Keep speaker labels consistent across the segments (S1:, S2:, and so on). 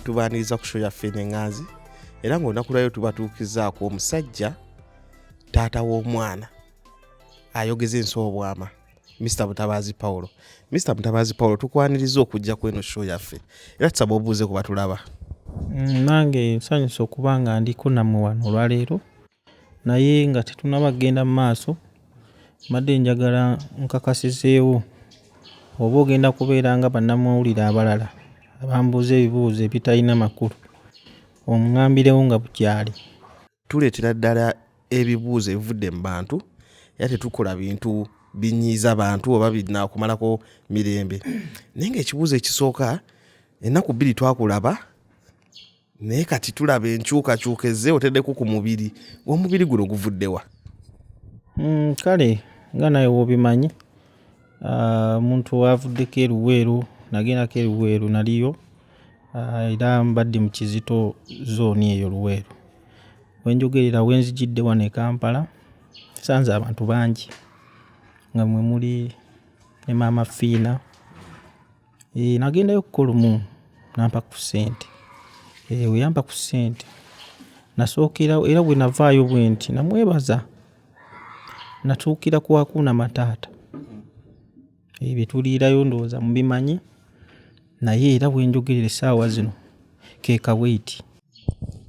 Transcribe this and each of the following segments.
S1: tubaniriza ku sho yaffe nenganzi era ngaolunaku lwayo tubatuukizaako omusajja taata w'omwana ayogeza ensi obwama mr mutabaazi paulo mr mutabaazi paulo tukwaniriza okujja ku eno sho yaffe era tusaba obuuze ku batulaba mm, nange
S2: nsanyusa okuba nga ndiko nammwe wano olwaleero Naye nga tetunnaba kugenda mu maaso, mbadde njagala nkakasizeewo oba ogenda kubeera nga bannamawulire abalala abambuuza ebibuuzo ebitalina makulu ong'ambirewo nga bukyali. Tuleetera
S1: ddala ebibuuzo ebivudde mu bantu era tetukola bintu binyiiza bantu oba binaakumalako mirembe. Naye ng'ekibuuzo ekisooka ennaku bbiri twakulaba. naye kati tulaba enkyukakyuka ezze oteddeko ku mubiri omubiri guno guvuddewa mm,
S2: kale nga naye wobimanyi ah, omuntu uh, wavuddeko eruweeru nagendako eruweeru naliyo uh, era mbadde mu kizito zooni eyo luweeru wenjogerera wenzijidde wano e kampala sanze abantu bangi nga mwe muli ne maama fiina Eeh nagendayo okukola lumu n'ampa ku ssente. Eeh bwe yampa ku ssente nasookerawo era bwe navaayo bwenti namwebaza. Natuukira ku Hakuna Matata. Eeh bye tuliirayo ndowooza mubimanyi naye era we njogerera essaawa zino ke Kaweiti.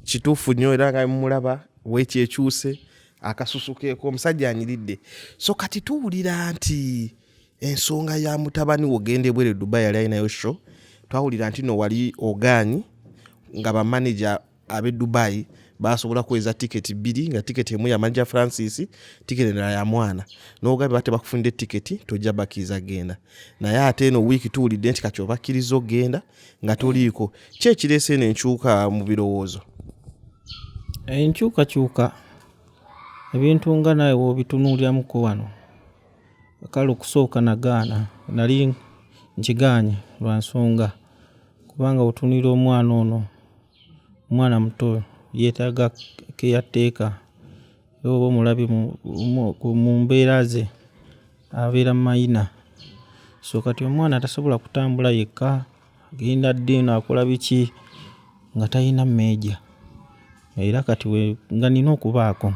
S2: Kituufu
S1: nnyo era nga bwe mumulaba weeti ekyuse, akasusu keeko, omusajja anyiridde. So kati tuwulira nti Ensonga ya mutabani wo ogenda ebweru e Dubai yali alinayo show, twawulira nti no wali ogaanyi nga ba manager ab'e Dubai baasobola kuweza tiketi bbiri nga tiketi emu ya manager Francis, tiketi endala ya mwana n'oga bwe batebakufunidde tiketi tojja bakkiriza kugenda naye ate eno wiiki tuwulidde nti kati obakkiriza okugenda nga toliiko. Ki ekireese eno enkyuka mu birowoozo? Enkyukakyuka
S2: ebintu nga naawe w'obitunuuliramuko wano. Kale okusooka nagaana, nali nkigaanyi lwa nsonga kubanga bw'otunuulira omwana ono, omwana muto yeetaaga keyateeka era bw'oba omulabye mu mbeera ze abeera mayina so kati omwana tasobola kutambula yekka. Agenda ddi eno akola biki nga talina meeja era kati we nga nina okubaako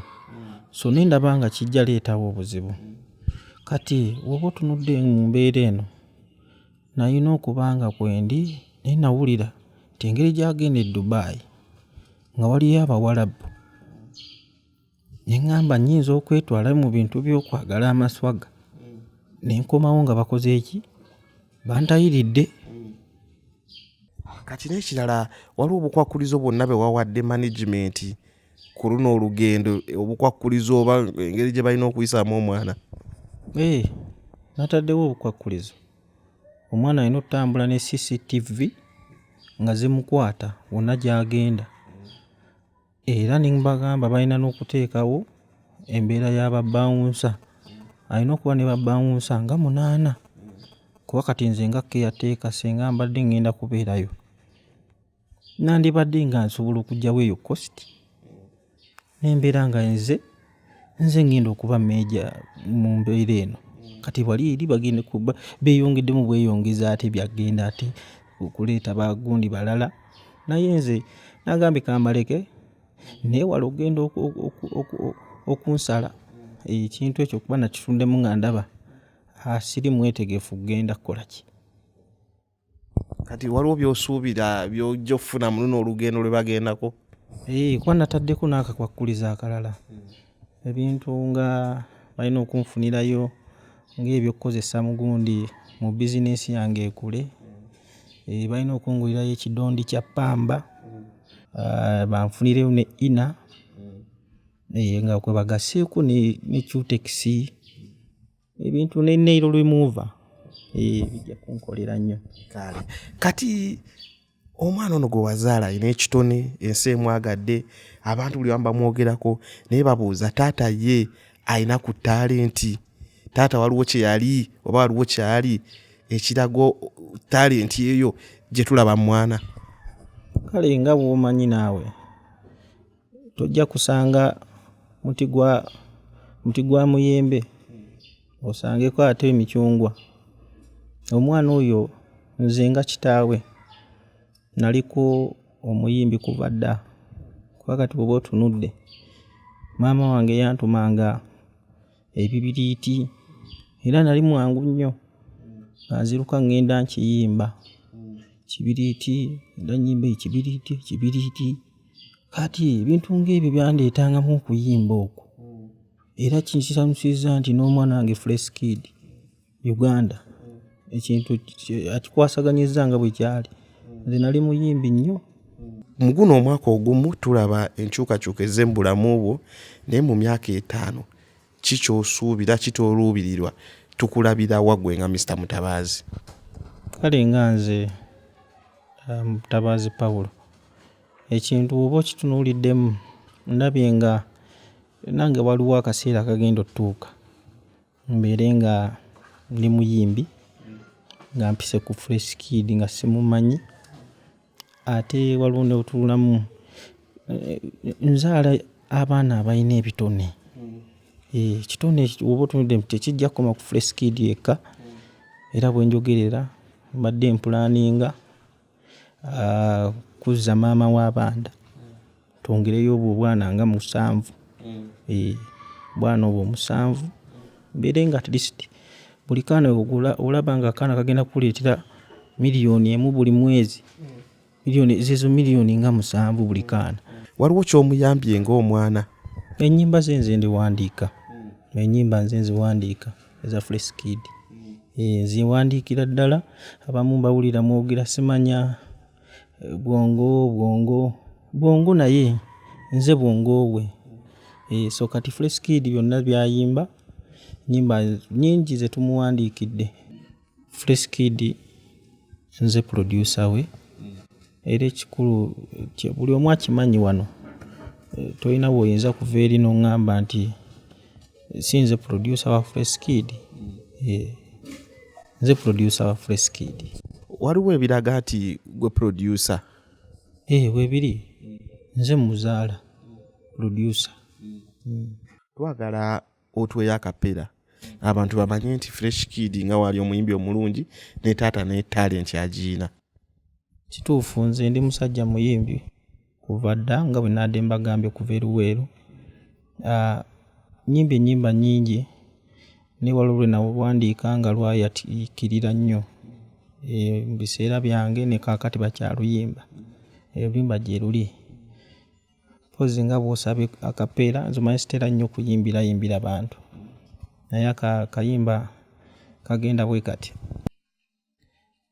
S2: so ne ndaba nga kijja leetawo obuzibu. Kati woba otunudde mu mbeera eno nalina okuba nga kwendi naye nawulira nti engeri gyagenda e Dubai nga waliyo Abawalabu. Ne ŋŋamba nnyinza okwetwala mu bintu by'okwagala amaswaga ne nkomawo nga bakoze eki bantayiridde
S1: kati n'ekirala waliwo obukwakkulizo bwonna bwe wawadde management ku luno olugendo obukwakkulizo oba engeri gye balina okuyisaamu omwana ee eh,
S2: nataddewo obukwakkulizo omwana alina okutambula ne cctv nga zimukwata wonna gy'agenda era nembagamba balina n'okuteekawo embeera ya babawunsa alina okuba ne babawunsa nga munaana kuba kati nze nga keyateeka singa mbadde ngenda kubeerayo nandibadde nga nsobola okugyawo eyo kositi nembeera nga nze Nze ngenda okuba meeja mu mbeera eno kati wali eri bagenda kuba beeyongeddemu bweyongezi ate byagenda ate okuleeta bagundi balala naye nze nagambye kambaleke nneewale okugenda okunsala ekintu ekyo kuba nakituddemu nga ndaba siri mwetegefu kugenda kukola ki.
S1: kati waliwo byosuubira byojja okufuna muluno olugendo lwe bagendako eh, kuba
S2: nataddeko n'akakwakkuliza akalala ebintu nga balina okunfunirayo ng'ebyokukozesa mu gundi mu bizinensi yange ekule eh, balina okungulirayo ekidondi kya ppamba ah, banfunireyo ne ina eh, nga kwe bagaseeko ne cutekisi ebintu ne nail remover eh, bijja kunkolera nnyo kale kati
S1: omwana ono gwe wazaala alina ekitone ensi emwagadde abantu buli bamubamwogerako naye babuuza taata ye alina ku talenti taata waliwo kyeyali oba waliwo kyali ekirago talenti eyo gyetulaba mwana kale
S2: nga bwomanyi naawe tojja kusanga muti gwa muti gwa muyembe osangeko ate emicungwa. Omwana oyo nze nga kitaawe naliko omuyimbi kuva dda kuba kati bw'oba otunudde maama wange yantumanga. ebibiriiti era nali mwangu nnyo nga nziruka ŋŋenda nkiyimba, kibiriiti era nnyimba ekibiriiti ekibiriiti. Kaati ebintu ng'ebyo byandeetangamu okuyimba okwo era kinsanyusizza nti n'omwana wange Fresh Kid. Uganda ekintu akikwasaganyizza nga bwe kyali nze nali muyimbi nnyo. Mu guno
S1: omwaka ogumu tulaba enkyukakyuka ezze mu bulamu bwo naye mu myaka etaano ki ky'osuubira ki ky'oluubirirwa tukulabira wa ggwe nga Mister Mutabaazi? Kale
S2: nga nze Mutabaazi Paul ekintu bw'oba okitunuuliddemu ndabye nga nange waliwo akaseera akagenda ottuuka. Mbeere nga ndi muyimbi nga mpise ku Fresh Kid nga simumanyi ate waliwo ne we tunulamu nzaala abaana abalina ebitone, ekitone bw'oba otunudde tekijja kukoma ku Fresh Kid yekka era we njogerera mbadde mpulaaninga. Ah, kuzza maama w'abaana. Twongereyo obwo obwana nga musanvu. Eeh, obwana obwo musanvu. Mbeere nga at least buli kaana bw'ogula, olaba nga akaana kagenda kukuleetera million emu buli mwezi. Million, zeezo million nga musanvu buli kaana. Waliwo ky'omuyambye
S1: ng'omwana? Ennyimba ze
S2: nze ndiwandiika. Ennyimba nze nziwandiika. eza freeskid eh, ziwandiikira ddala abamu mbawulira mwogera simanya eh, bwongo bwongo bwongo naye nze bwongo we eh, so kati freeskid byonna byayimba nyimba nyingi zetumuwandiikidde Fresh Kid nze producer we era ekikulu buli omu akimanyi wano eh, tolina bwoyinza kuva eri noŋŋamba nti eh, si nze producer wa Fresh Kid eh, nze producer wa Fresh Kid waliwo ebiraga
S1: nti gwe producer ee
S2: webiri nze muzaala producer mm. twagala
S1: otweyo akapera abantu bamanye nti fresh kid nga waali omuyimbi omulungi ne taata ne talenti agiina kituufu
S2: nze ndi musajja muyimbi kuva dda nga bwe naadde mbagambye okuva eruweeru ah, nyimba enyimba nyingi newalolwe nawandiika nga lwayatikirira nnyo eh, mu biseera byange nekakati bakyaluyimba eh, oluyimba gyeruli Mpozzi nga bw'osaba akapeera, nze omanyi sitera nnyo kuyimbirayimbira bantu naye aka kayimba kagenda bwe kati.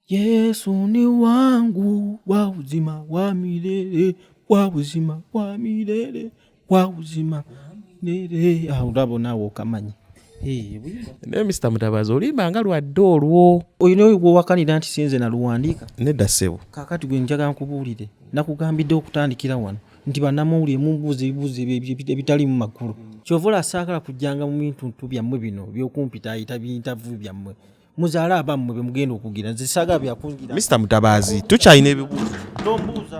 S2: Yesu ni wangu wa uzima wa milele wa uzima wa milele wa uzima milele. Awo ah, olaba naawe okamanyi.
S1: naye mr mutabazi olimba nga lwadde olwo olina gwewakanira
S2: nti sinze naluwandiika nedda ssebo
S1: kakati gwe njaga
S2: nkubuulire nakugambidde okutandikira wano nti banamawulire mubuuza ebibuuzo ebitalimu makulu kyova olasaagala kujjanga mu bintuntu byammwe bino byokumpita ayita bintavu byammwe muzaale abammwe be mugenda okugira nze saaga
S1: byakungira
S2: mr mutabaazi
S1: tukyalina
S2: ebibuuzo
S1: tombuuza